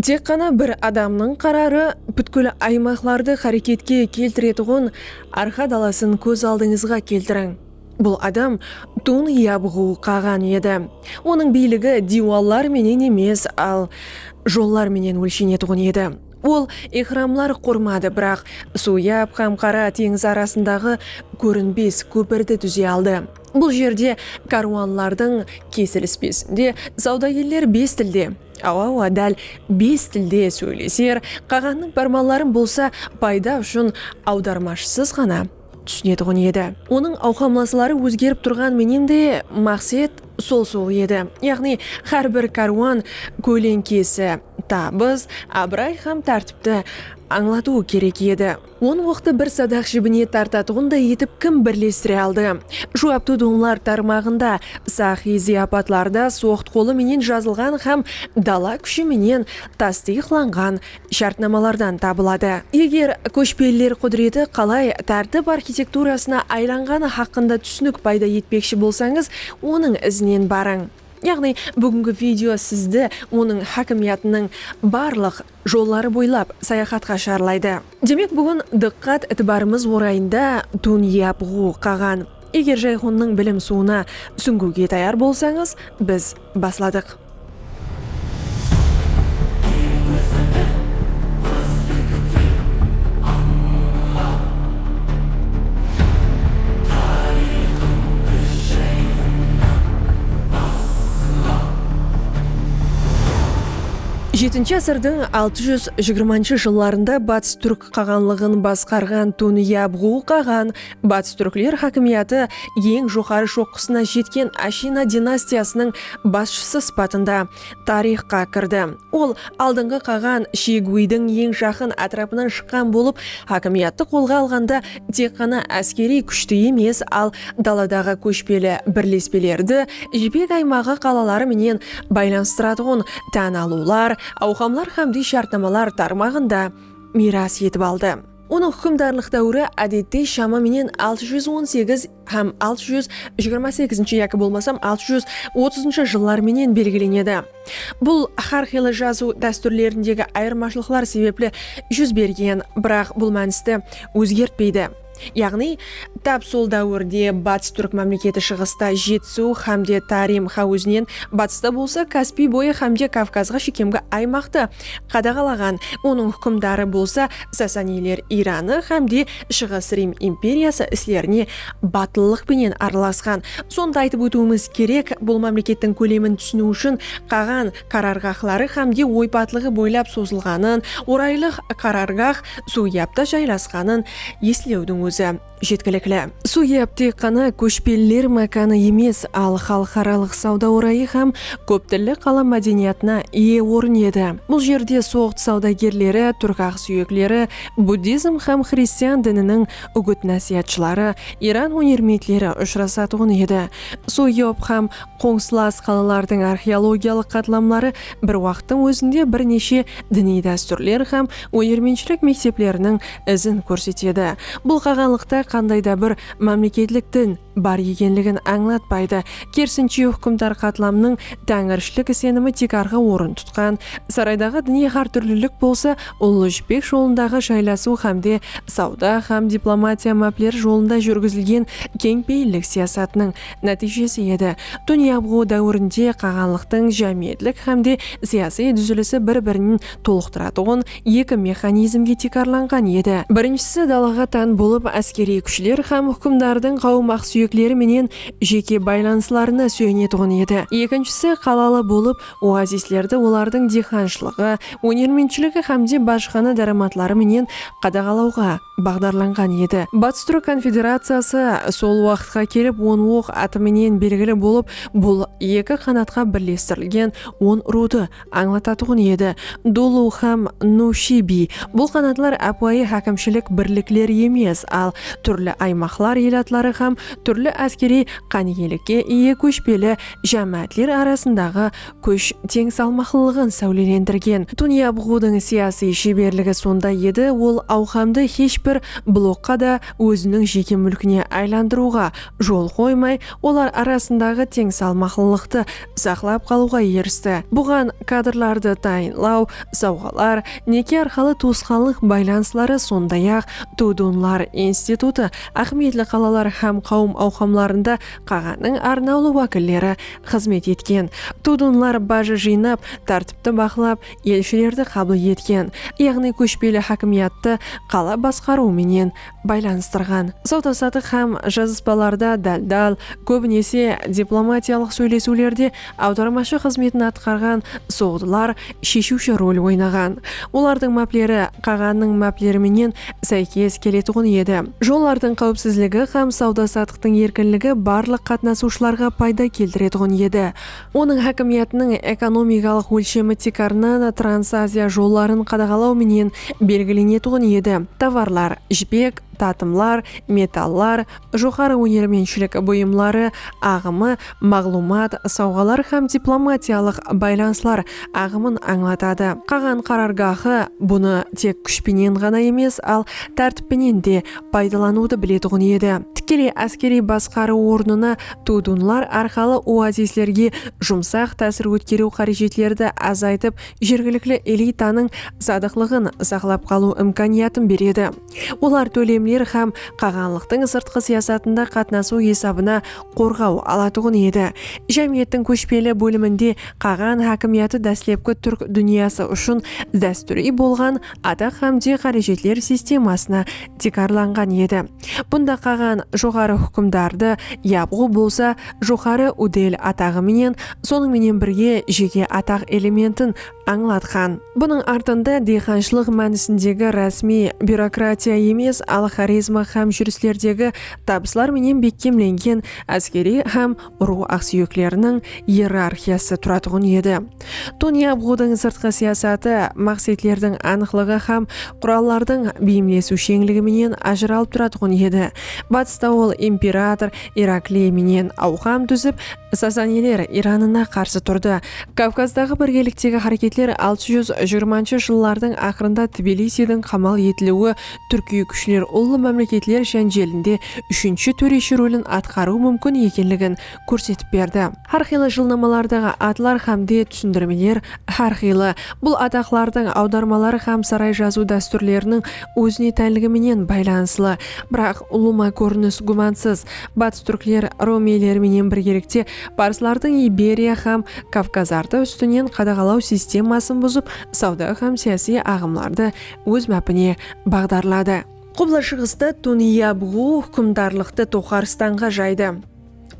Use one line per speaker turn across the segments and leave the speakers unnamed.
Tek ǵana bir adamnıń qararı pútkil aymaqlardı xáreketke keltiretuǵın arqa dalasın kóz aldıńızǵa keltiriń. Bul adam tun yabıǵıw qaǵan edi. Onıń biyligi diywallar menen emes, al, jollar menen ólshenetuǵın edi. Ol ehramlar qurmadı, biraq Suyab hám Qara teńiz arasındaǵı kórinbes kópirdi dúze aldı. Bul jerde kárwanlardıń kesilispesinde sawdagerler bes tilde. Awa-awa dál bes tilde sóyleser, qaǵannıń pármanların bolsa payda ushın awdarmashısız ǵana túsinetuǵın edi. Onıń awqamlasları ózgerip turǵan menen de maqset sol-sol edi, yaǵnıy hár bir kárwan kóleńkesi tabıs, abıray hám tártipti ańlatıwı kerek edi. On oqtı bir sadaq jibine tartatuǵınday etip kim birlestire aldı? Juwaptı donlar tarmaǵında, saxıy zıyapatlarda soqt qolı menen jazılǵan hám dala kúshi menen tastıyıqlanǵan shártnamalardan tabıladı. Eger kóshpeliler qúdireti qalay tártip arxitekturasına aylanǵanı haqqında túsinik payda etpekshi bolsańız, onıń izinen barıń. Yaǵnıy, búgingi video sizdi onıń hákimiyatınıń barlıq. jolları boylap sayaxatqa shıǵarlaydı. Demek búgin dıqqat itibarımız orayında tún yap ǵu qaǵan. Eger Jayxonnıń bilim suwına súńgiwge tayar bolsańız, biz basladıq. Jetinshi ásirdiń altı júz jigirmanshı jıllarında Batıs túrk qaǵanlıǵın basqarǵan Tunyabǵu qaǵan Batıs túrkler hákimiyatı eń joqarı shoqqısına jetken Ashina dinastiyasınıń basshısı sıpatında tariyxqa kirdi. Ol aldınǵı qaǵan Shiyguidiń eń jaqın átirapınan shıqqan bolıp, hákimiyattı qolǵa alǵanda tek ǵana áskeriy kúshti emes, al daladaǵı kóshpeli birlespelerdi Jipek aymaǵı qalaları menen baylanıstıratuǵın tán alıwlar, awqamlar hámde shártnamalar tarmaǵın da miyras etip aldı. Onıń húkimdarlıq dáwiri ádette shama menen altı júz on segiz, hám altı júz jigirma segizinshi yaki bolmasam altı júz otızınshı jıllar menen belgilenedi. Bul hár qıylı jazıw dástúrlerindegi ayırmashılıqlar sebepli júz bergen, biraq bul mánisti ózgertpeydi. Yaǵnıy, tap sol dáwirde Batıs túrk mámleketi shıǵısta Jetisiw hámde Tarim háwizinen, batısta bolsa Kaspiy boyı hámde Kavkazǵa shekemgi aymaqtı qadaǵalaǵan, onıń húkimdarı bolsa Sasaniyler Iranı hámde Shıǵıs Rim imperiyası islerine batıllıq penen aralasqan. Sonı da aytıp ótiwimiz kerek, bul mámlekettiń kólemin túsiniw ushın qaǵan qarargaxları hámde oypatlıǵı boylap sozılǵanın, oraylıq qarargax Suwyapta jaylasqanın eslewdiń ózi jetkilikli. Suwyap tek ǵana kóshpeliler mákanı emes, al xalıqaralıq sawda orayı hám kóp tilli qala mádeniyatına iye orın edi. Bul jerde soǵd sawdagerleri, túrk aqsúyekleri, Buddizm hám xristian dininiń úgit-násiyatshıları, Iran húnermentleri ushırasatuǵın edi. Suyop hám qońsılas qalalardıń arxeologiyalıq qatlamları bir waqıttıń ózinde bir neshe diniy dástúrler hám ónermentshilik mektepleriniń izin kórsetedi. Bul qaǵanlıqta qanday da bir mámleketlik din bar ekenligin ańlatpaydı, kerisinshe húkimdar qatlamnıń táńirshilik isenimi tiykarǵı orın tutqan saraydaǵı diniy hártúrlilik bolsa Ullı jipek jolındaǵı jaylasiw hámde sawda hám diplomatiya mápleri jolında júrgizilgen keńpeyillik siyasatınıń nátiyjesi edi. Tún yabıǵıw dáwirinde qaǵanlıqtıń jámiyetlik hámde siyasiy dúzilisi bir-birinin tolıqtıratuǵın eki mexanizmge tiykarlanǵan edi. Birinshisi dalaǵa tán bolıp áskeriy kúshler hám húkimdardıń qawım aqsúyekleri menen jeke baylanıslarına súyenetuǵın edi. Ekinshisi qalalı bolıp Oazislerdi olardıń diyxanshılıǵı, ónermentshiligi hámde bajıxana dáramatları menen qadaǵalawǵa baǵdarlanǵan edi. Batıs túrk konfederaciyası sol waqıtqa kelip on oq atı menen belgili bolıp, bul eki qanatqa birlestirilgen on ruwdı ańlatatuǵın edi, Dulu hám Nushi biy. Bul qanatlar ápiwayı hákimshilik birlikleri emes, al túrli aymaqlar elatları hám túrli áskeriy qániyelikke iye kóshpeli jámáátler arasındaǵı kúsh teń salmaqlılıǵın sáwlelendirgen. Tunyabǵudıń siyasiy sheberligi sonda edi, ol awqamdı hesh bir blokqa da óziniń jeke múlkine aylandırıwǵa jol qoymay, olar arasındaǵı teń salmaqlılıqtı saqlap qalıwǵa eristi. Buǵan kadrlardı tayınlaw, sawǵalar, neke arqalı tuwısqanlıq baylanısları, sonday-aq, Tudunlar institutı, áhmiyetli qalalar hám qawım awqamlarında Qaǵanıń arnawlı wákilleri xızmet etken, tudunlar bajı jıynap, tártipti baqlap, elshilerdi qabıl etken, yaǵnıy kóshpeli hákimiyattı qala basqarıwı menen baylanıstırǵan. Sawda-satıq hám jazıspalarda dál-dál, kóbinese diplomatiyalıq sóylesiwlerde Awdarmashı xızmetin atqarǵan soǵdılar sheshiwshi rol oynaǵan. Olardıń mápleri qaǵannıń mápleri menen sáykes keletuǵın edi. Jollardıń qáwipsizligi hám sawda-satıqtıń erkinligi barlıq qatnasıwshılarǵa payda keltiretuǵın edi. Onıń hákimiyatınıń ekonomikalıq ólshemi tiykarınan Transaziya jolların qadaǵalaw menen belgilenetuǵın edi. Tovarlar, jipek, tatımlar, metallar, joqarı ónermentshilik buyımları aǵımı, maǵlıwmat, sawǵalar hám diplomatiyalıq baylanıslar aǵımın ańlatadı. Qaǵan qarargahı bunı tek kúsh penen ǵana emes, al tártip penen de paydalanıwdı biletuǵın edi. Tikkeley áskeriy basqarıw ornına tudunlar arqalı oazislerge jumsaq tásir ótkeriw qárejetlerdi azaytıp jergilikli elitanıń sadıqlıǵın saqlap qalıw imkaniyatın beredi. Olar tólemler hám qaǵanlıqtıń sırtqı siyasatında qatnasıw esabına qorǵaw alatuǵın edi. Jámiyettiń kóshpeli bóliminde qaǵan hákimiyatı dáslepki túrk dúnyası ushın dástúriy bolǵan ataq hám de qárejetler sistemasına tiykarlanǵan edi. Bunda qaǵan joqarı húkimdardı Yapǵu bolsa joqarı udel ataǵı menen, sonıń menen birge jeke ataq elementin ańlatqan. Bunıń artında diyxanshılıq mánisindegi rásmiy byurokratiya emes, al xorezma hám júrislerdegi tabıslar menen bekkemlengen áskeriy hám urıw aqsúyekleriniń iyerarxiyası turatuǵın edi. Tonyabgudıń sırtqı siyasatı maqsetlerdiń anıqlıǵı hám qurallardıń beyimlesiwsheńligi menen ajıralıp turatuǵın edi. Batısta ol imperator Irakliy menen awqam dúzip, Sasaniler Iranına qarsı turdı. Kavkazdaǵı birgeliktegi háreketler altı júz jigirmanshı jıllardıń aqırında Tbilisiydiń qamal etiliwi túrkiy kúshler ullı mámleketler jánjelinde úshinshi tóreshi rólin atqarıw múmkin ekenligin kórsetip berdi. Hár qıylı jılnamalardaǵı atlar hám de túsindirmeler hár qıylı. Bul ataqlardıń awdarmaları hám saray jazıw dástúrleriniń ózine tánligi menen baylanıslı. Biraq ulıwma kórinis gúmansız Batıs túrkler romeyler menen birgelikte parslardıń Iberiya hám Kavkazardı ústinen qadaǵalaw sistemasın buzıp, sawda hám siyasiy aǵımlardı óz mápine baǵdarladı. Qubla shıǵısta Tuniyabuǵu húkimdarlıqtı Toxarstanǵa jaydı.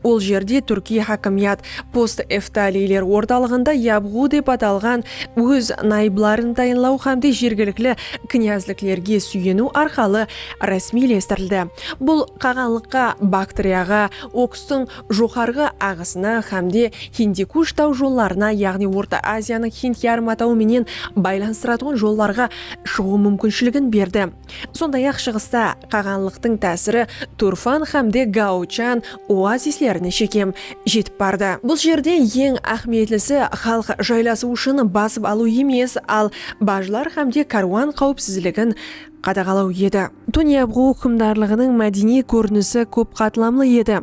Ol jerde túrkiy hákimiyat post-eftaliyler ortalıǵında Yabuǵu dep atalǵan óz nayıbların tayınlaw hám de jergilikli knyazliklerge súyeniw arqalı rásmiylestirildi. Bul qaǵanlıqqa Baktriyaǵa, Okstıń joqarǵı aǵısına hámde Hindikush taw jollarına, yaǵnıy Orta Aziyanıń Hind yarım atawı menen baylanıstıratuǵın jollarǵa shıǵıw múmkinshiligin berdi. Sonday-aq, shıǵısta qaǵanlıqtıń tásiri Turfan hámde Gaochan oazislerine shekem jetip bardı. Bul jerde eń áhmiyetlisi xalıq jaylasıw ushın basıp alıw emes, al bajlar hámde kárwan qáwipsizligin qadaǵalaw edi. Tonyabǵu húkimdarlıǵınıń mádeniy kórinisi kóp qatlamlı edi.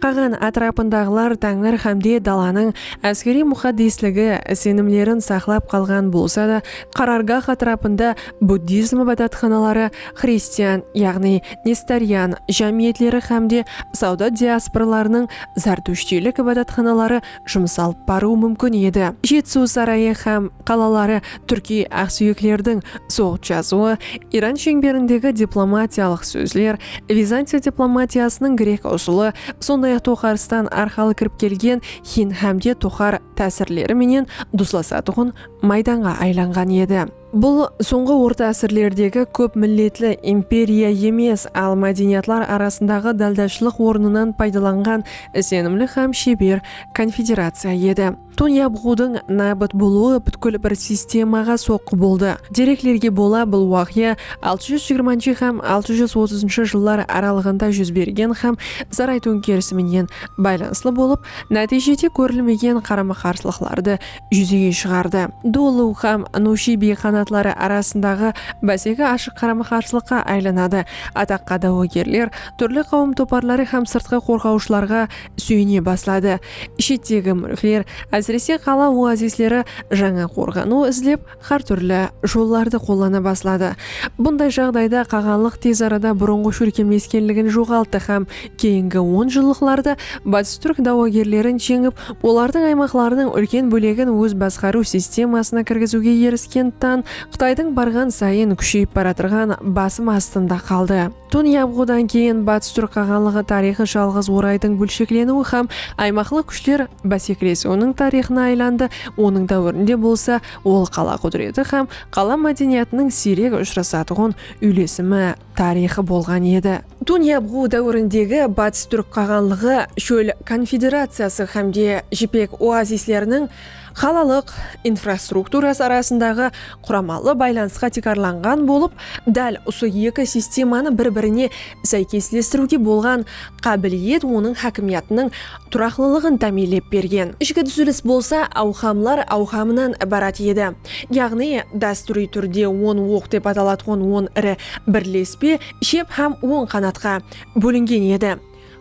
Qaǵan átirapındaǵılar táńir hámde dalanıń áskeriy muxaddesligi, isenimlerin saqlap qalǵan bolsa da, qarargah átirapında buddizm ibadatxanaları, xristian, yaǵnıy nestorian, jámiyetleri hámde sawda diasporalarınıń zartushtiylik ibadatxanaları jumıs alıp barıwı múmkin edi. Jetisuw sarayı hám qalaları túrkiy aqsúyeklerdiń soǵıt jazıwı, Iran sheńberindegi diplomatiyalıq sózler, Vizantiya diplomatiyasınıń grek usılı, sonday-aq Toxaristan arqalı kirip kelgen Hind hámde Toxar tásirleri menen duslasatuǵın maydanǵa aylanǵan edi. Bul sońǵı orta ásirlerdegi kóp milletli imperiya emes, al mádeniyatlar arasındaǵı dáldashlıq ornınan paydalanǵan isenimli hám sheber konfederaciya edi. Tón yabǵıwdıń nábit bolıwı pútkil bir sistemaǵa soqqı boldı. Dereklerge bola bul waqıya altı júz jigirmanshı hám altı júz otızınshı jıllar aralıǵında júz bergen hám Zaray tóńkerisi menen baylanıslı bolıp, nátiyjede kórilmegen qarama-qarsılıqlardı júzege shıǵardı. Dolu hám Nushibi qanatları arasındaǵı báseki ashıq qarama-qarsılıqqa aylanadı. Ataqqa dáwógerler, túrli qáwim toparları hám sırtqı qorǵawshılarǵa súyene basladı. Shettegi múlkler, ásirese qala oazisleri jańa qorǵanıw izlep, Xár túrli jollardı qollana basladı. Bunday jaǵdayda qaǵanlıq tez arada burınǵı shólkemleskenligin joǵalttı hám keyingi on jıllıqlarda batıs túrk dawagerlerin jeńip, olardıń aymaqlarınıń úlken bólegin óz basqarıw sistemasına kirgiziwge erisken tan Qıtaydıń barǵan sayın kúsheyip baratırǵan basım astında qaldı. Tún yabǵıwdan keyin Batıs Túrk Qaǵanlıǵı tariyxı jalǵız oraydıń bólshekleniwi hám aymaqlıq kúshler básekelesiwiniń tariyxına aylandı, onıń dáwirinde bolsa ol qala qúdireti hám qala mádeniyatınıń siyrek ushırasatuǵın úylesimi tariyxı bolǵan edi. Tún yabǵıwı dáwirindegi Batıs Túrk Qaǵanlıǵı shól konfederaciyası hámde jipek oazisleriniń, Qalalıq infrastrukturası arasındaǵı quramalı baylanısqa tiykarlanǵan bolıp, dál usı eki sistemanı bir-birine sáykeslestiriwge bolǵan qábiliyet onıń hákimiyatınıń turaqlılıǵın támiyinlep bergen. Ishki dúzilis bolsa awqamlar awqamınan ibarat edi. Yaǵnıy, dástúriy túrde on oq dep atalatqan on iri birlespe, shep hám oń qanatqa, bólingen edi.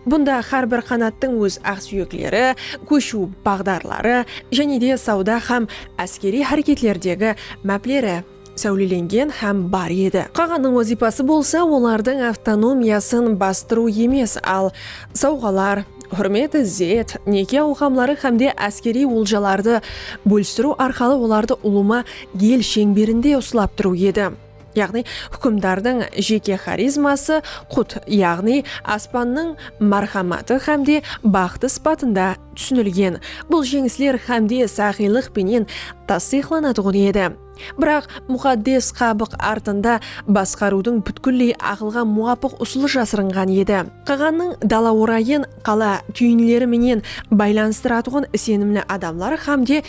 Bunda hár bir qanattıń óz aqsúyekleri, kóshiw baǵdarları jáne de sawda hám áskeriy háreketlerdegi mápleri sáwlelengen hám bar edi. Qaǵanıń wazıypası bolsa olardıń avtonomiyasın bastırıw emes, al, sawǵalar, húrmet, izzet, neke awqamları hám de áskeriy oljalardı bólistiriw arqalı olardı ulıwma el sheńberinde uslap turıw edi. Yaǵnıy, húkimdardıń jeke xarizması qut, yaǵnıy, aspannıń márhamatı hámde baxtı sıpatında túsinilgen. Bul jeńisler hámde saxıylıq penen tastıyıqlanatuǵın edi. Biraq, muxaddes qabıq artıında basqarıwdıń pútkilley aqılǵa muwapıq usılı jasırınǵan edi. Qaǵannıń dala orayın qala túyinleri menen baylanıstıratuǵın isenimli adamlar hámde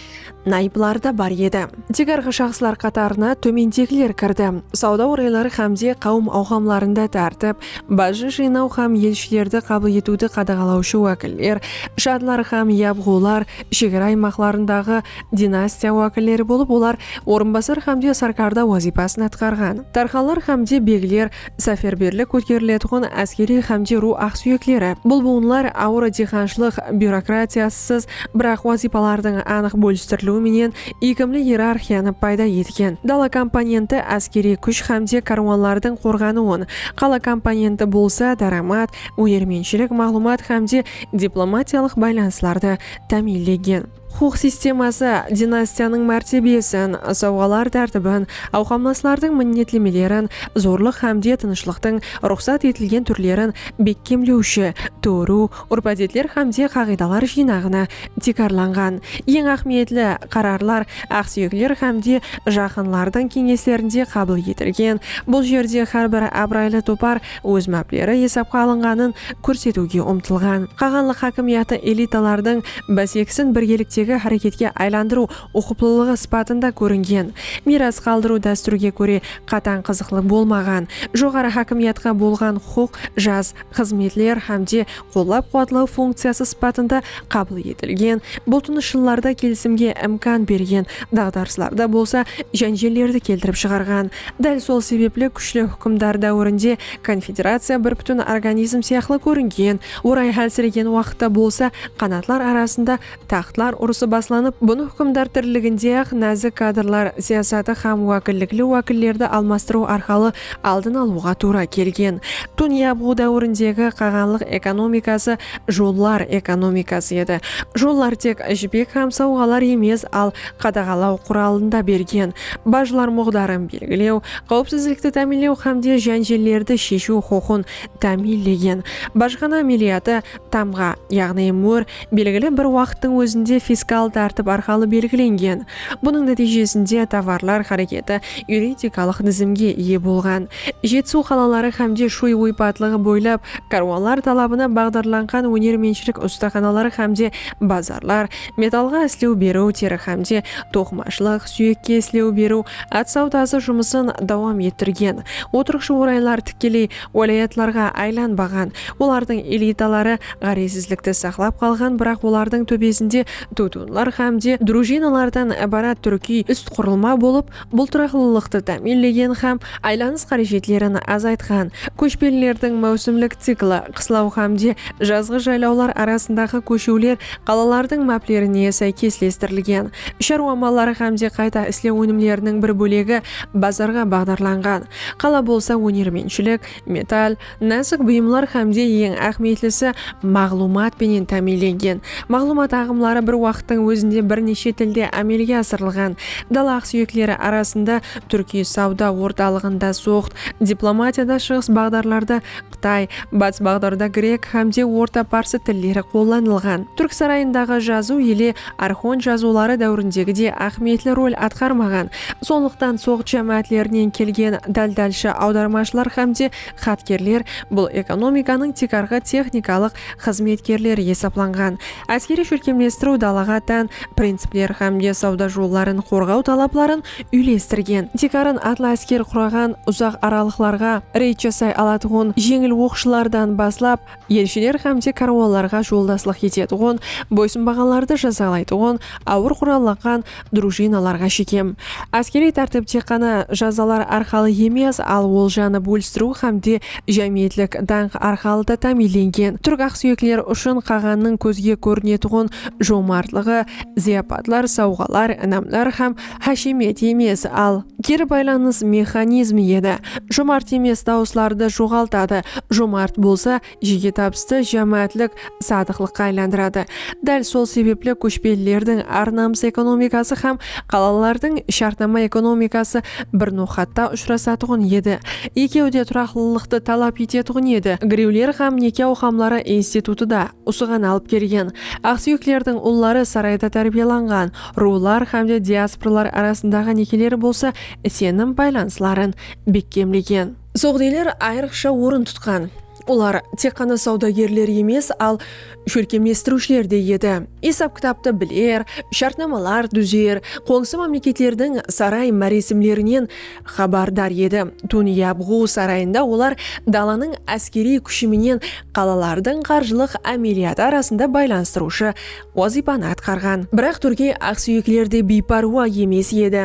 Nayıplar da bar edi. Tiykarǵı shaxslar qatarına tómendegiler kirdi, sawda orayları hám de qáwim awqamlarında tártip, bajı jıynaw hám elshilerdi qabıl etiwdi qadaǵalawshı wákiller, shadlar hám yabǵular, shegara aymaqlarındaǵı dinastiya wákilleri bolıp olar orınbasar hám de sarkarda wazıypasın atqarǵan, tarxanlar hám de begler, Sáferberlik kóteriletuǵın áskeriy xámde ruw aqsúyekleri, bul buwınlar awır diyxanshılıq byurokratiyasısız, biraq wazıypalardıń anıq bólistiriliwi menen iykimli iyerarxiyanı payda etken. Dala komponenti áskeriy kúsh xámde kárwanlardıń qorǵanıwın, qala komponenti bolsa dáramat, ónermentshilik, maǵlıwmat xámde diplomatiyalıq baylanıslardı támiyinlegen. Huqıq sisteması, dinastiyanıń mártebesin, sawǵalar tártibin, awqamlaslardıń minnetlemelerin, zorlıq hámde tınıshlıqtıń ruxsat etilgen túrlerin bekkemlewshi tóriw, úrp-ádetler hámde qaǵıydalar jıynaǵına tiykarlanǵan. Eń áhmiyetli qararlar aqsúyekler hámde jaqınlardıń keńeslerinde qabıl etilgen. Bul jerde hár bir abıraylı topar óz mápleri esapqa alınǵanın kórsetiwge umtılǵan. Qaǵanlıq hákimiyatı elitalardıń básekisin birgeliktegi háreketke aylandırıw uqıplılıǵı sıpatında kóringen. Miyras qaldırıw dástúrge kóre qatań qızıqlı bolmaǵan. Joqarı hákimiyatqa bolǵan huqıq, jas, xızmetler hámde qollap-quwatlaw funkciyası sıpatında qabıl etilgen, bultınıshlılarda kelisimge imkan bergen, daǵdarıslarda bolsa jánjellerdi keltirip shıǵarǵan. Dál sol sebepli kúshli húkimdar dáwirinde konfederaciya bir pútin organizm sıyaqlı kóringen, orayı hálsiregen waqıtta bolsa qanatlar arasında Taxtlar urısı baslanıp, bunı húkimdar tiriliginde-aq názik kadrlar siyasatı hám wákillikli wákillerdi almastırıw arqalı aldın alıwǵa tuwra kelgen. Tún yabıw dáwirindegi qaǵanlıq ekonomikası jollar ekonomikası edi. Jollar tek jipek hám sawǵalar emes, al qadaǵalaw quralın da bergen, bajlar muǵdarın belgilew, qáwipsizlikti támiynlew hámde jánjellerdi sheshiw huqıqın támiynlegen. Bajxana ámeliyatı Tamǵa, yaǵnıy mur, belgili bir waqıttıń ózinde fiskal tártip arqalı belgilengen. Bunıń nátiyjesinde tovarlar háreketi yuridikalıq dizimge iye bolǵan. Jetisiw qalaları hámde Shúy oypatlıǵı boylap kárwanlar talabına baǵdarlanǵan ónermentshilik ustaxanaları hámde bazarlar, metallǵa islew beriw, teri hámde toqımashılıq, súyekke islew beriw, at sawdası jumısın dawam ettirgen. Otırıqshı oraylar tikkeley Wálayatlarǵa aylanbaǵan, olardıń elitaları ǵárezsizlikti saqlap qalǵan, biraq olardıń tóbesinde tutunlar hám de drujinalardan ibarat túrkiy úst qurılma bolıp, bul turaqlılıqtı támiyinlegen hám aylanıs qárejetlerin azaytqan. Kóshpelilerdiń máwsimlik cikli, qıslaw hám de jazǵı jaylawlar arasındaǵı kóshiwler qalalardıń máplerine sáykeslestirilgen. Sharwa mallari hám de qayta islew ónimleriniń bir bólegi bazarǵa baǵdarlanǵan. Qala bolsa ónermentshilik, metall, násik buyımlar hámde eń áhmiyetlisi maǵlıwmat penen támiyinlengen. Maǵlıwmat aǵımları bir waqıttıń ózinde bir neshe tilde ámelge asırılǵan. Dala aqsúyekleri arasında, túrkiy sawda ortalıǵında, soǵd diplomatiyada shıǵıs baǵdarlardı, Qıtay, Batıs baǵdarda grek hám de orta parsı tilleri qollanılǵan. Túrk sarayındaǵı jazıw ele arxon jazıwları dáwirindegi de áhmiyetli rol atqarmaǵan. Sonlıqtan soǵd jámáátlerinen kelgen dáldálshı awdarmashılar hám de xatkerler bul ekonomikanıń tiykarǵı texnikalıq xızmetkerler esaplanǵan áskeriy shólkemlestiriw dalaǵa tán principler hámde sawda jolların qorǵaw talapların úylestirgen, tiykarın atlı ásker quraǵan uzaq aralıqlarǵa reyd jasay alatuǵın jeńil oqshılardan baslap elshiler hámde kárwanlarǵa joldaslıq etetuǵın boysınbaǵanlardı jazalaytuǵın awır qurallanǵan Drujinalarǵa shekem áskeriy tártip tek ǵana jazalar arqalı emes, al oljanı bólistiriw hám de jámiyetlik dańq arqalı da támiyinlengen. Túrk aqsúyekler ushın qaǵannıń kózge kórinetuǵın jomartlıǵı zıyapatlar, sawǵalar, inamlar hám háshemiyat emes, al keri baylanıs mexanizmi edi. Jomart emes dawıslardı joǵaltadı, jomart bolsa Jeke tabıstı jámáátlik sadıqlıqqa aylandıradı. Dál sol sebepli kóshpelilerdiń ar-namıs ekonomikası hám qalalılardıń shártnama ekonomikası bir noqatta ushırasatuǵın edi. Ekewi de turaqlılıqtı talap etetuǵın edi. Girewler hám neke awqamları institutı da usıǵan alıp kelgen. Aqsúyeklerdiń ulları sarayda tárbiyalanǵan ruwlar hám de diasporalar arasındaǵı nekeleri bolsa isenim baylanısların bekkemlegen. Soǵdiyler ayrıqsha orın tutqan. Olar tek ǵana sawdagerler emes, al shólkemlestiriwshiler de edi. Esap-kitaptı biler, shártnamalar dúzer, qońsı mámleketlerdiń saray máresimlerinen xabardar edi. Tún Yabǵu sarayında olar dalanıń áskeriy kúshi menen qalalardıń qarjılıq ámeliyatı arasında baylanıstırıwshı wazıypanı atqarǵan. Biraq túrkiy aqsúyekler de biypárwa emes edi.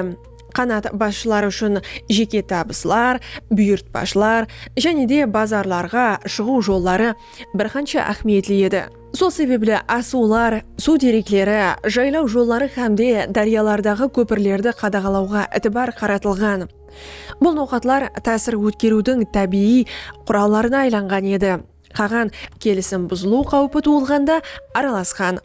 Qanat basshıları ushın jeke tabıslar, buyırtpashılar jáne de bazarlarǵa shıǵıw jolları bir qansha áhmiyetli edi. Sol sebepli asıwlar, suw derekleri, jaylaw jolları hám de dáryalardaǵı kópirlerdi qadaǵalawǵa itibar qaratılǵan. Bul noqatlar tásir ótkeriwdiń tábiyiy qurallarına aylanǵan edi. Qaǵan kelisim buzılıw qáwpi tuwılǵanda aralasqan,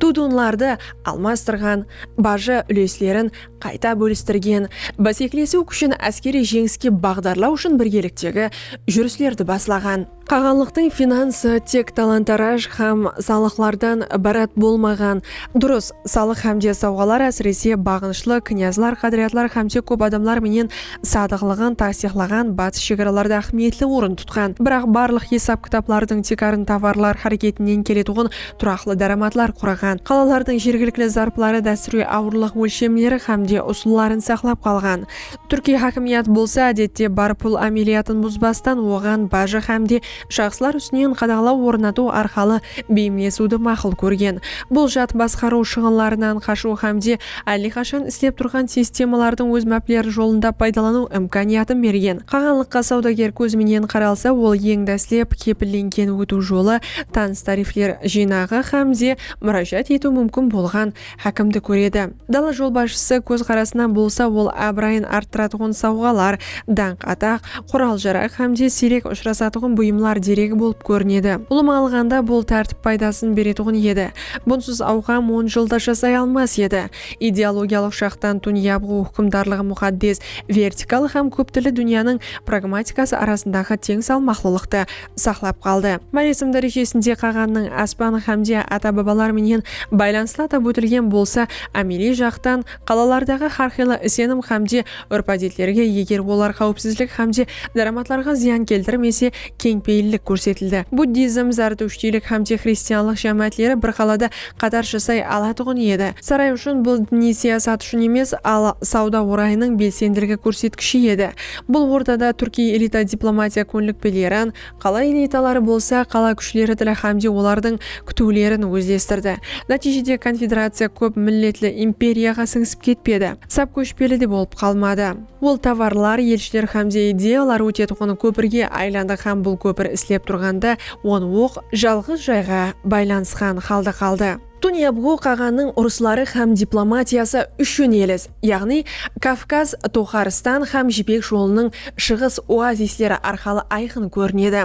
dudunlardı almastırǵan, bajı úleslerin qayta bólistirgen, báseklesiw kúshin áskeriy jeńiske baǵdarlaw ushın birgeliktegi júrislerdi baslaǵan. Qaǵanlıqtıń finansı tek talan-taraj hám salıqlardan ibarat bolmaǵan. Durıs, salıq hámde sawǵalar ásirese baǵınıshlı knyazlar, qádiriyatlar hámde kóp adamlar menen sadıqlıǵın tastıyıqlaǵan batıs shegaralarda áhmiyetli orın tutqan. Biraq barlıq esap-kitaplardıń tiykarın tovarlar háreketinen keletuǵın turaqlı dáramatlar quraǵan. Qalalardıń jergilikli zarpları dástúrge awırlıq ólshemleri hám de usılların saqlap qalǵan. Túrkiy hákimiyat bolsa ádette bar pul ámeliyatın buzbastan oǵan bajı hám de shaxslar ústinen qadaǵalaw ornatıw arqalı beyimlesiwdi maqul kórgen. Bul jat basqarıw shıǵınlarınan qashıw hám de Álle qashan islep turǵan sistemalardıń óz mápleri jolında paydalanıw imkaniyatın bergen. Qaǵanlıqqa sawdager kózi menen qaralsa, ol eń dáslep kepillengen ótiw jolı, tanıs tarifler jıynaǵı hám de múrájat etiw múmkin bolǵan hákimdi kóredi. Dala jolbasshısı kózqarasınan bolsa, ol abırayın arttıratuǵın sawǵalar, dańq-ataq, qural-jaraq hám de siyrek ushırasatuǵın buyımlar deregi bolıp kórinedi. Ulıwma alǵanda, bul tártip paydasın beretuǵın edi. Bunsız awqam on jıl da jasay almas edi. Ideologiyalıq jaqtan dúnya buǵı húkimdarlıǵı muxaddes vertikal hám kóptilli dúnyanıń pragmatikası arasındaǵı teń salmaqlılıqtı saqlap qaldı. Máresim dárejesinde qaǵannıń aspan hámde ata-babalar menen baylanıslı atap ótilgen bolsa, ámeliy jaqtan qalalardaǵı hárqıylı isenim hámde Úrp-ádetlerge, eger olar qáwipsizlik hám de dáramatlarǵa zıyan keltirmese, keńpeyillik kórsetildi. Buddizm, zardushtiylik hám de xristianlıq jámáátleri bir qalada qatar jasay alatuǵın edi. Saray ushın bul diniy siyasat ushın emes, al sawda orayınıń belsendiligi kórsetkishi edi. Bul ortada túrkiy elita diplomatiya kónlikpelerin, Qala elitaları bolsa qala kúshleri tili hámde olardıń kútiwlerin ózlestirdi. Nátiyjede konfederaciya kóp milletli imperiyaǵa sińisip ketpedi, sap kóshpeli de bolıp qalmadı. Ol tovarlar, elshiler hámde ideyalar ótetuǵın kópirge aylandı hám bul kópir islep turǵanda on oq jalǵız jayǵa baylanısqan halda qaldı. Tunyabǵu qaǵanıń urısları hám diplomatiyası úshin elis, yaǵnıy Kavkaz, Toxaristan hám Jipek jolınıń shıǵıs oazisleri arqalı ayqın kórinedi.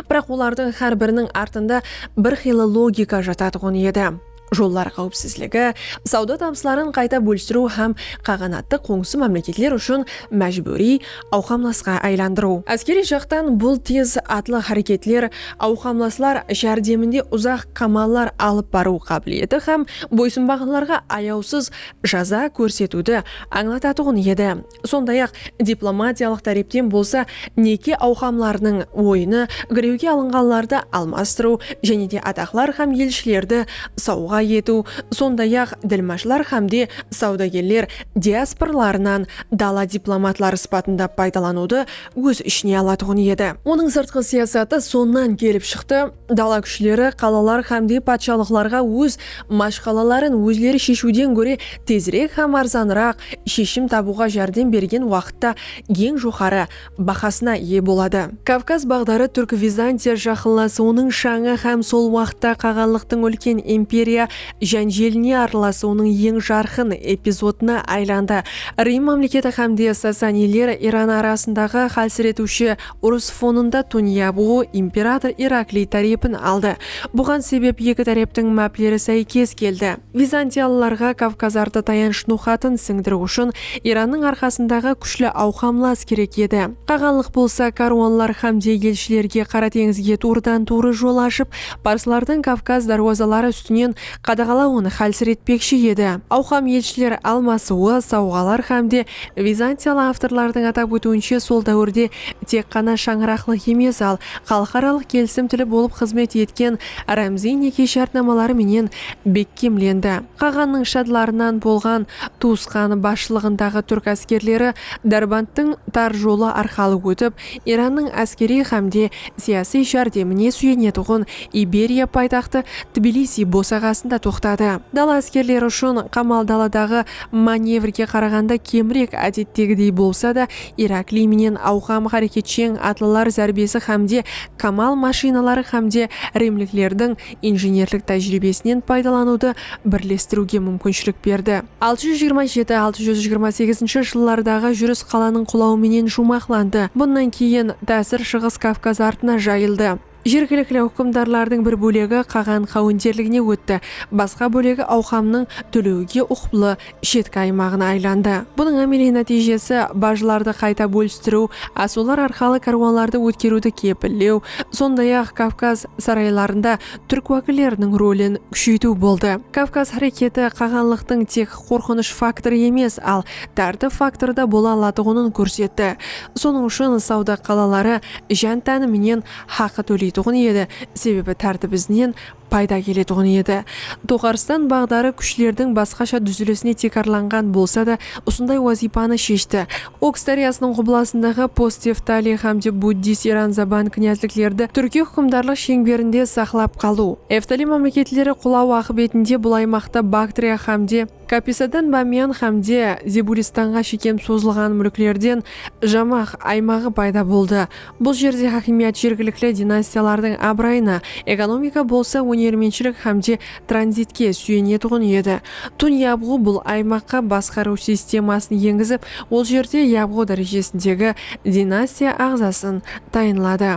Biraq olardıń hár biriniń artında bir qıylı logika jatatuǵın edi, jollar qáwipsizligi, sawda tabısların qayta bólistiriw hám qaǵanattı qońsı mámleketler ushın májbúriy awqamlasqa aylandırıw. Áskeriy jaqtan bul tez atlı háreketler awqamlaslar járdeminde uzaq qamallar alıp barıw qábileti hám boysınbaǵanlarǵa ayawsız jaza kórsetiwdi ańlatatuǵın edi. Sonday-aq, diplomatiyalıq tárepten bolsa neke awqamlarınıń oyını girewge alınǵanlardı almastırıw jáne de ataqlar hám elshilerdi sawǵa etiw, sonday-aq, dilmashlar hám de sawdagerler diasporalarınan dala diplomatları sıpatında paydalanıwdı óz ishine alatuǵın edi. Onıń sırtqı siyasatı sonnan kelip shıqtı, dala kúshleri qalalar hámde patshalıqlarǵa óz mashqalaların ózleri sheshiwden góre tezirek hám arzanıraq sheshim tabıwǵa járdem bergen waqıtta eń joqarı bahasına iye boladı. Kavkaz baǵdarı Túrk-Vizantiya jaqınlasıwınıń shańı hám sol waqıtta qaǵanlıqtıń úlken imperiya jánjeline arılasıwınıń eń jarqın epizodına aylandı. Rim mámleketi hám de Sasaniyler Iran arasındaǵı hálsiretiwshi urıs fonında Tunya bu imperator Irakliy tárepin aldı. Buǵan sebep eki táreptiń mápleri sáykes keldi. Vizantiyalılarǵa Kavkazardı tayanısh noqatın sińdiriw ushın Irannıń arqasındaǵı kúshli awqamlas kerek edi. Qaǵanlıq bolsa kárwanlar xámde elshilerge Qara teńizge tuwrıdan-tuwrı jol ashıp, parslardıń Kavkaz dárwazaları ústinen qadaǵalawın xálsiretpekshi edi. Awqam elshiler almasıwı, sawǵalar xámde vizantiyalı avtorlardıń atap ótiwinshe sol dáwirde tek ǵana shańaraqlıq emes, al xalıqaralıq kelisim tili bolıp xızmet etken rámziy neke shártnamaları menen bekkemlendi. Qaǵannıń shadlarınan bolǵan tuwısqanı basshılıǵındaǵı túrk áskerleri Dárbandtıń tar jolı arqalı ótip, Irannıń áskeriy hám de siyasiy járdemine súyenetuǵın Iberiya paytaxtı Tbilisiy bosaǵasında toqtadı. Dala áskerleri ushın qamal daladaǵı manevrge qaraǵanda kemrek ádettegidey bolsa da, Irakliy menen awqam háreketsheń atlılar zárbesi hám de kamal mashinaları hám de rimliklerdiń injenerlik tájiriybesinen paydalanıwdı birlestiriwge múmkinshilik berdi. Altı júz jigirma jeti, altı júz jigirma segizinshi jıllardaǵı júris qalanıń qulawı menen juwmaqlandı, bunnan keyin tásir Shıǵıs Kavkaz artına jayıldı. Jergilikli húkimdarlardıń bir bólegi qaǵan qáwenderligine ótti, basqa bólegi awqamnıń tólewiwge uqıplı shetki aymaǵına aylandı. Bunıń ámeliy nátiyjesi bajlardı qayta bólistiriw, asıwlar arqalı kárwanlardı ótkeriwdi kepillew, sonday-aq, Kavkaz saraylarında túrk wákilleriniń rolin kúsheytiw boldı. Kavkaz háreketi qaǵanlıqtıń tek qorqınısh faktorı emes, al tártip faktorı da bola alatuǵının kórsetti. Sonıń ushın sawda qalaları ján-táni menen haqı tóleytuǵın edi, sebebi tártip izinen payda keletuǵın edi. Toqarıstan baǵdarı kúshlerdiń basqasha dúzilisine tiykarlanǵan bolsa da, usınday wazıypanı sheshti. Oks dáryasınıń qublasındaǵı Post-Eftaliy hámde Buddist Iranzaban knyazliklerdi túrkiy húkimdarlıq sheńberinde saqlap qalıw, Eftaliy mámleketleri qulawı aqıbetinde bul aymaqta Baktriya hámde Kapisadan Bamiyan hámde Zebulistanǵa shekem sozılǵan múlklerden Jamax aymaǵı payda boldı. Bul jerde hákimiyat jergilikli dinastiyalardıń abırayına, ekonomika bolsa ónermentshilik hám de tranzitke súyenetuǵın edi. Tun Yabǵu bul aymaqqa basqarıw sistemasın engizip, ol jerde Yabǵu dárejesindegi dinastiya aǵzasın tayınladı.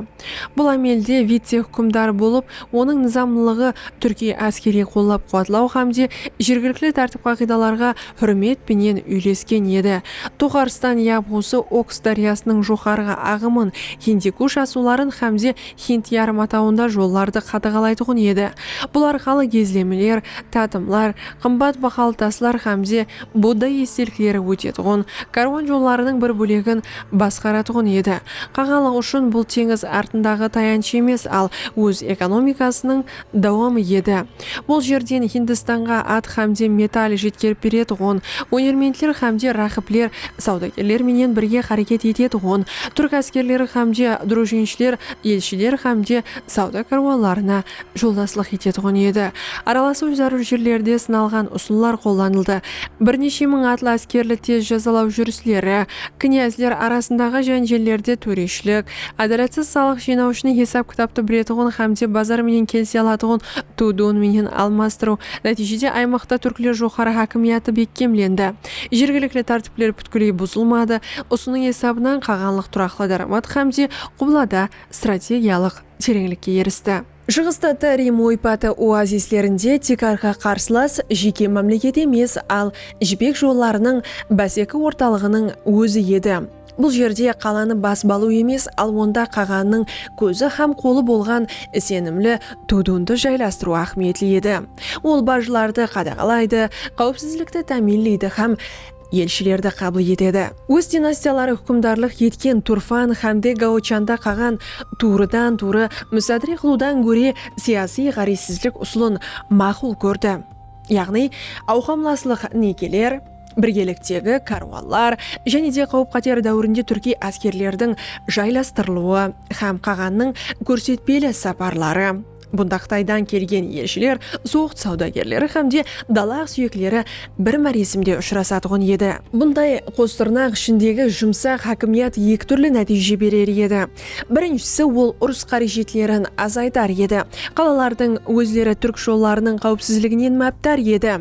Bul ámelde vitse-húkimdar bolıp, onıń nızamlılıǵı túrkiy áskeriy qollap-quwatlaw hám de jergilikli tártip-qaǵıydalarǵa húrmet penen úylesken edi. Toxarstan yabǵusı Oks dáryasınıń joqarǵı aǵımın, Hindikush asıwların hámde Hind yarımatawında jollardı qadaǵalaytuǵın edi. Bul arqalı gezlemeler, tatımlar, qımbat bahalı taslar hámde Budda estelikleri ótetuǵın kárwan jollarınıń bir bólegin basqaratuǵın edi. Qaǵanlıq ushın bul teńiz artındaǵı tayansh emes, al óz ekonomikasınıń dawamı edi. Bul jerden Hindistanǵa at xámde metal jetkerip beretuǵın, ónermentler xámde ráqibler, sawdagerler menen birge xáreket etetuǵın túrk áskerleri xámde drujinshiler elshiler xámde sawda kárwanlarına joldaslıq etetuǵın edi. Aralasıw zárúr jerlerde sınalǵan usıllar qollanıldı. Bir neshe mıń atlı áskerli tez jazalaw júrisleri, knyazler arasındaǵı jánjellerde tóreshilik, Ádalatsız salıq jıynawshını hesap-kitaptı biletuǵın hámde bazar menen kelise alatuǵın ıtıw-dıwın menen almastırıw. Nátiyjede aymaqta túrkler joqarı hákimiyatı bekkemlendi. Jergilikli tártipler pútkiley buzılmadı. Usınıń esabınan qaǵanlıq turaqlı dáramat hámde qublada strategiyalıq tereńlikke eristi. Shıǵısta tı Rim oypatı oazislerinde tiykarǵı qarsılas jeke mámleket emes, al Jipek jollarınıń báseki ortalıǵınıń ózi edi. Bul jerde qalanı basıp alıw emes, al onda qaǵannıń kózi hám qolı bolǵan isenimli Tudundı jaylastırıw áhmiyetli edi. Ol bajlardı qadaǵalaydı, qáwipsizlikti támiyinleydi hám. elshilerdi qabıl etedi. Óz dinastiyaları húkimdarlıq etken Turfan xámde Gaochanda qaǵan tuwrıdan-tuwrı musadre qılıwdan góre siyasiy ǵárezsizlik usılın maqul kórdi, yaǵnıy awqamlaslıq nekeler, birgeliktegi kárwanlar jáne de qáwip-qáter dáwirinde túrkiy áskerlerdiń jaylastırılıwı hám qaǵannıń kórsetpeli saparları, Bunda Qıtaydan kelgen elshiler, zoǵd sawdagerleri hám de dalaǵ súyekleri bir máresimde ushırasatuǵın edi. Bunday qos tırnaq ishindegi jumsaq hákimiyat eki túrli nátiyje berer edi. Birinshisi, ol urıs qárejetlerin azaytar edi. Qalalardıń ózleri túrk jollarınıń qáwipsizliginen mápdar edi.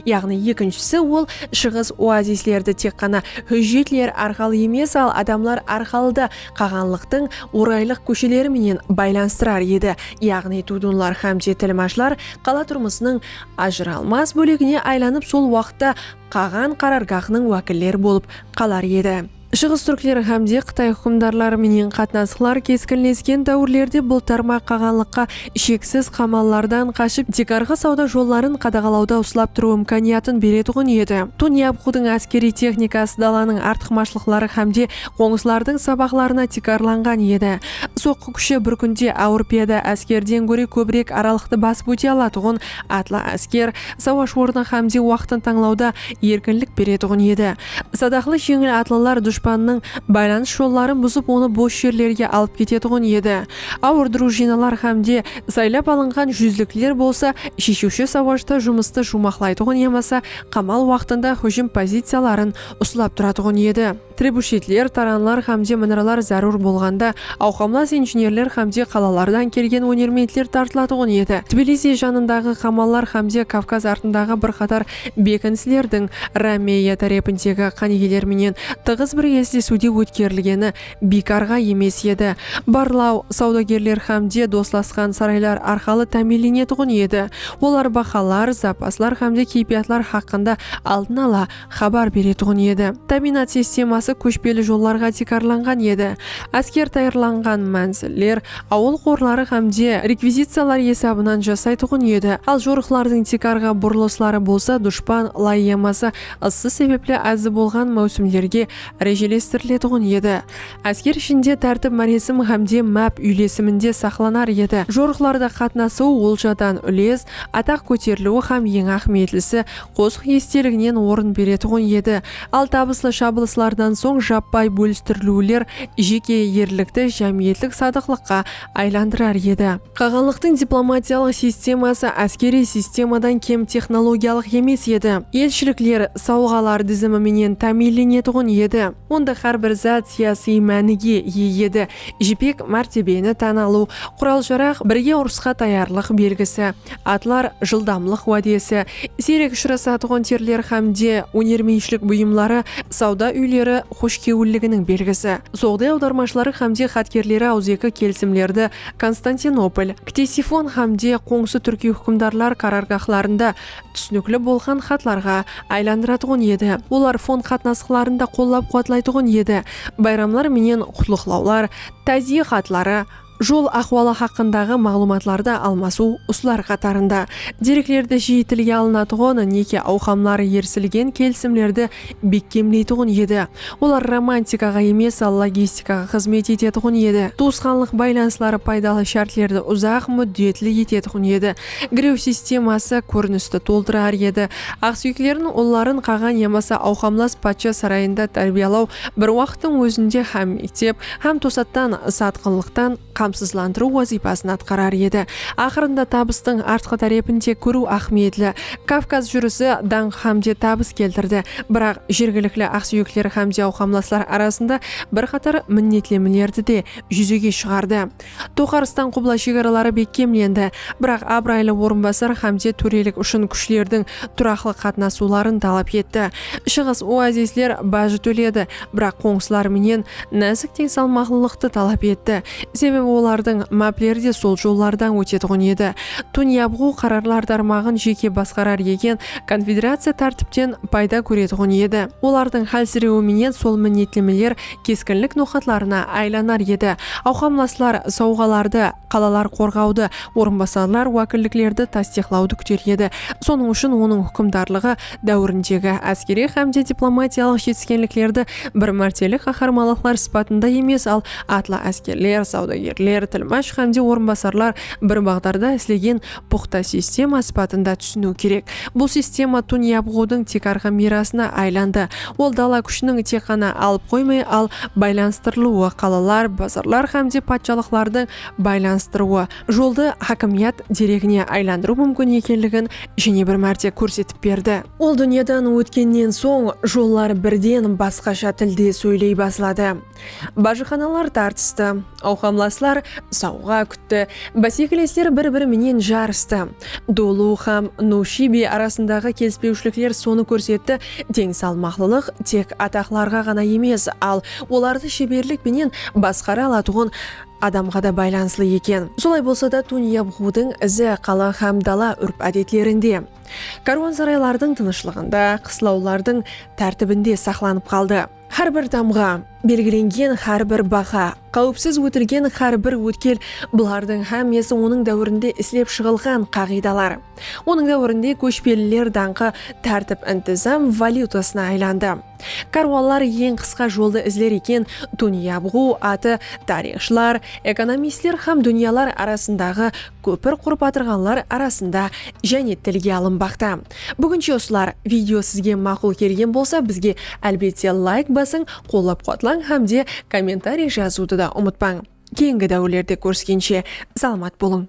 Yaǵnıy ekinshisi ol shıǵıs oazislerdi tek ǵana hújjetler arqalı emes, al adamlar arqalıda qaǵanlıqtıń oraylıq kósheleri menen baylanıstırar edi, yaǵnıy tudunlar xámde tilmashlar qala turmısınıń ajıralmas bólegine aylanıp sol waqıtta qaǵan qarargahınıń wákilleri bolıp qalar edi. Shıǵıs túrkleri hám de Qıtay húkimdarları menen qatnasıqlar keskinlesken dáwirlerde bul tarmaq qaǵanlıqqa sheksiz qamallardan qashıp tiykarǵı sawda jolların qadaǵalawda uslap turıw imkaniyatın beretuǵın edi. Tun Yapqudıń áskeriy texnikası dalanıń artıqmashlıqları hám de qońsılardıń sabaqlarına tiykarlanǵan edi. Soqqı kúshi bir kúnde awır piyada áskerden góre kóbirek aralıqtı basıp óte alatuǵın atlı ásker, sawash ornı hám de waqtın tańlawda erkinlik beretuǵın edi. Sadaqlı jeńil atlılar dushpannıń baylanıs jolların buzıp onı bos jerlerge alıp ketetuǵın edi. Awır drujinalar hámde saylap alınǵan júzlikler bolsa sheshiwshi sawashta jumıstı juwmaqlaytuǵın yamasa qamal waqtında hújim poziciyaların uslap turatuǵın edi. Trebushetler, taranlar hámde minralar zárúr bolǵanda awqamlas injenerler hámde qalalardan kelgen ónermentler tartılatuǵın edi. Tbilisi janındaǵı qamallar hámde Kavkaz artındaǵı bir qatar Bekinislerdiń Romeya tárepindegi qánigeler menen tıǵız bir eslesiwde ótkerilgeni biykarǵa emes edi. Barlaw sawdagerler hámde doslasqan saraylar arqalı támiyinlenetuǵın edi. Olar bahalar, zapaslar hámde keypiyatlar haqqında aldın ala xabar beretuǵın edi. Támiyinat sisteması kóshpeli jollarǵa tiykarlanǵan edi. Ásker tayarlanǵan mánziller awıl qorları hám de rekviziciyalar esabınan jasaytuǵın edi, al jorıqlardıń tiykarǵı burılısları bolsa dushpan lay yamasa ıssı sebepli azı bolǵan máwsimlerge rejelestiriletuǵın edi. Ásker ishinde tártip máresim hám de máp úylesiminde saqlanar edi. Jorıqlarda qatnasıw oljadan úles, ataq kóteriliwi hám eń áhmiyetlisi qosıq esteliginen orın beretuǵın edi, Al tabıslı shabılıslardan soń jappay bólistiriliwler jeke erlikti jámiyetlik sadıqlıqqa aylandırar edi. Qaǵanlıqtıń diplomatiyalıq sisteması áskeriy sistemadan kem texnologiyalıq emes edi. Elshilikler sawǵalar dizimi menen támiyinlenetuǵın edi. Onda hár bir zat siyasıy mánige iye edi. Jipek, mártebeni tán alıw, qural-jaraq, birge urısqa tayarlıq belgisi, atlar, jıldamlıq wádesi, siyrek ushırasatuǵın terler hám de ónermenshlik buyımları, sawda úyleri xoshkewilliginiń belgisi. Soǵday awdarmashıları hám de xatkerleri awızeki kelisimlerdi Konstantinopol, Ktesifon hám de qońsı túrkiy húkimdarlar qarargahlarında túsinikli bolǵan xatlarǵa aylandıratuǵın edi, olar fon qatnasıqların da qollap-quwatlaytuǵın edi, bayramlar menen qutlıqlawlar, táziye xatları, jol ahwalı haqqındaǵı maǵlıwmatlardı almasıw, usılar qatarında, dereklerdi jiyi tilge alınatuǵın, neke awqamları, erisilgen kelisimlerdi bekkemleytuǵın edi, olar romantikaǵa emes, al logistikaǵa xızmet etetuǵın edi, tuwısqanlıq baylanısları paydalı shártlerdi uzaq múddetli etetuǵın edi, Giriw sisteması kórinisti toldırar edi. Aqsúyeklerin ulların qaǵan yamasa awqamlas patsha sarayında tárbiyalaw bir waqıttıń ózinde hám mektep, hám tosattan satqınlıqtan qamsızlandırıw wazıypasın atqarar edi. Aqırında tabıstıń artqı tárepin de kóriw áhmiyetli. Kavkaz júrisi dańq hámde tabıs keltirdi. Biraq jergilikli aqsúyekler hámde awqamlaslar arasında bir qatar minnetlemelerdi de júzege shıǵardı. Toqarıstan qubla shegaraları bekkemlendi, biraq abıraylı orınbasar Xamse tórelik ushın kúshlerdiń turaqlı qatnasıwların talap etti. Shıǵıs oazisler bajı tóledi, biraq qońsılar menen násik teńsalmaqlılıqtı talap etti, sebebi olardıń mápleri de sol jollardan ótetuǵın edi. Tun Yabǵu qararlar tarmaǵın jeke basqarar eken, konfederaciya tártipten payda kóretuǵın edi. Olardıń hálsirewi menen sol minnetlemeler keskinlik noqatlarına aylanar edi. Awqamlaslar sawǵalardı, qalalar qorǵawdı, orınbasarlar wákilliklerdi tastıyıqlawdı kúter edi. Sonıń ushın onıń húkimdarlıǵı dáwirindegi áskeriy hám de diplomatiyalıq jetiskenliklerdi bir mártelik qaharmanlıqlar sıpatında emes, al atlı áskerler, sawdagerler, tilmash hám de orınbasarlar bir baǵdarda islegen puqta sistema sıpatında túsiniw kerek. Bul sistema Tun Yabǵudıń tiykarǵı miyrasına aylandı. Ol dala kúshiniń tek ǵana alıp qoymay, al baylanıstırılıwı, qalalar, bazarlar hám de patshalıqlardıń baylanıstırıwı, joldı hákimiyat deregine aylandırıw múmkin ekenligin jáne bir márte kórsetip berdi. Ol dúnyadan ótkennen soń, jollar birden basqasha tilde sóyley basladı. Bajıxanalar tartıstı. Awqamlaslar sawǵa kútti. Básekilesler bir-biri menen jarıstı. Dulu hám Nuwshibi arasındaǵı kelispewshilikler sonı kórsetti, teń salmaqlılıq tek ataqlarǵa ǵana emes, al, olardı sheberlik penen basqara alatuǵın adamǵa da baylanıslı eken. Solay bolsa da, Tunyabǵudıń izi qala hám dala úrp-ádetlerinde, kárwansaraylardıń tınıshlıǵında, qıslawlardıń tártibinde saqlanıp qaldı. Hár bir tamǵa, belgilengen hár bir baha, qáwipsiz ótilgen hár bir ótkel, bulardıń hámmesi onıń dáwirinde islep shıǵılǵan qaǵıydalar. Onıń dáwirinde kóshpeliler dańqı tártip-intizam valyutasına aylandı. Kárwanlar eń qısqa joldı izler eken, Dúnya búǵiw atı tariyxshılar, ekonomistler hám dúnyalar arasındaǵı Kópir qurıp atırǵanlar arasında jáne tilge alınbaqta. Búginshe usılar. Video sizge maqul kelgen bolsa bizge álbette layk basıń, qollap-quwatlań hám de kommentariy jazıwdı da umıtpań. Keyingi dáwirlerde kóriskenshe salamat bolıń.